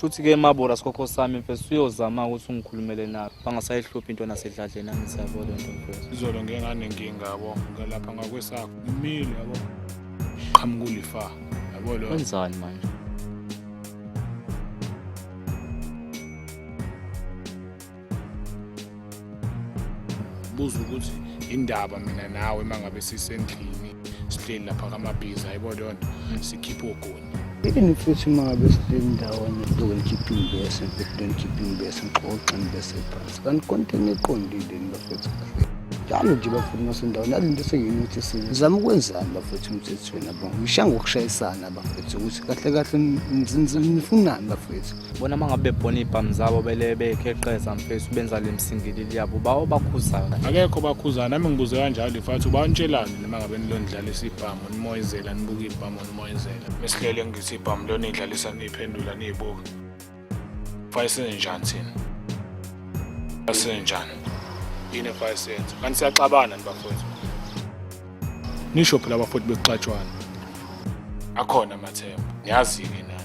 Shuthi ke mabora sikhokho sami mfethu uyozama ukuthi ungikhulumele nabo bangasayihluphi into nasedladleni angisabo lento mfethu. Izolo ngengane nkinga yabo ngalapha ngakwesakho ngimile yabo qhamuka ulifa yabo lo. Wenzani manje? buza ukuthi indaba mina nawe uma ngabe sisendlini sihleli lapha kamabhizi hayibo leyo nto sikhiphe ogoni yini futhi uma ngabe sihleli ndawonye lokulikhipha imbese lokulikhipha imbese ngixoxe ngibese phansi kanti konke niqondile ni bafethu njalo nje bafuni masendaweni alinto seyini ukuthi sizama ukwenzani bafethu umthethweni abo ngisha ngokushayisana bafethu ukuthi kahle kahle nifunani bafethu bona uma ngabe bebhona iy'bhamu zabo bele bekheqeza mfethu benza le msingilili yabo bawo bakhuzana akekho bakhuzana nami ngibuze kanjalo lifathi uba nitshelani noma ngabe nilondlalisa ibhamu nimoyizela nibuke ibhamu nimoyizela mesilele ngithi ibhamu lona idlalisa niyiphendula niyibuke fake senzenjani thina senzenjani yini efake senze kanti siyaxabana nibafowethu Nisho phela abafoti bekuxatshwana. Akhona amathemba. Niyazi ke nani.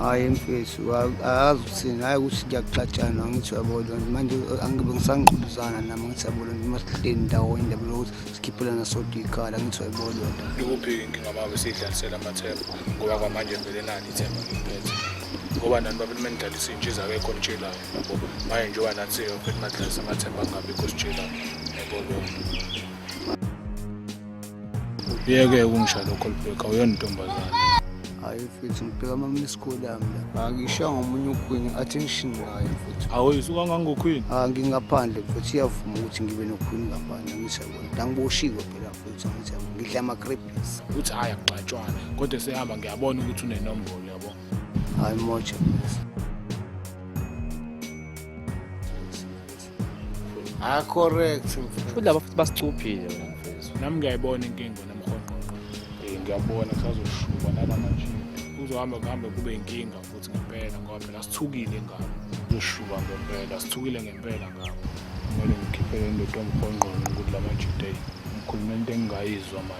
Hayi mfethu akazi ukuthini hayi ukuthi kuyakuxatshana ngithi uyabona manje angibe ngisangqubuzana nami ngithi uyabona noma sihleli ndawonye ndaba lokuthi sikhiphelana sodwa ikhala ngithi uyabona Ikuphi inkinga uma besidlalisela amathemba ngoba kwamanje vele nani ithemba ngiphethe. Ngoba nani babe mentalisi intshiza akekho nitshelayo. Manje njengoba nathi seyophethe madlalisa amathemba angabikho sitshelayo. Yebo lokho. uyeke ukungisha lokho libheka uyona intombazane hayi mfethu ngibheka mamla isikole yami la angisha ngomunye ukhwini attention ngayo mfethu awu suka ngangokhwini ah ngingaphandle mfethu iyavuma ukuthi ngibe nokhwini ngaphandle ngisha bona ngangiboshiwe phela mfethu ngisha ngidla ama crepes uthi haya kugcatshwana kodwa sehamba ngiyabona ukuthi unenombolo yabo hayi moja mfethu Ah correct mfethu. Futhi laba futhi basicuphile wena mfethu. Nami ngiyayibona inkinga wena mkhonqoqo. Eh ngiyabona kusazoshuba nala manje. Kuzohamba kuhambe kube inkinga futhi ngempela ngoba phela sithukile ngabo. Uzoshuba ngempela sithukile ngempela ngabo. Kumele ngikhiphele indoda omkhonqoqo ukuthi la majide. Ngikhuluma into engingayizwa manje.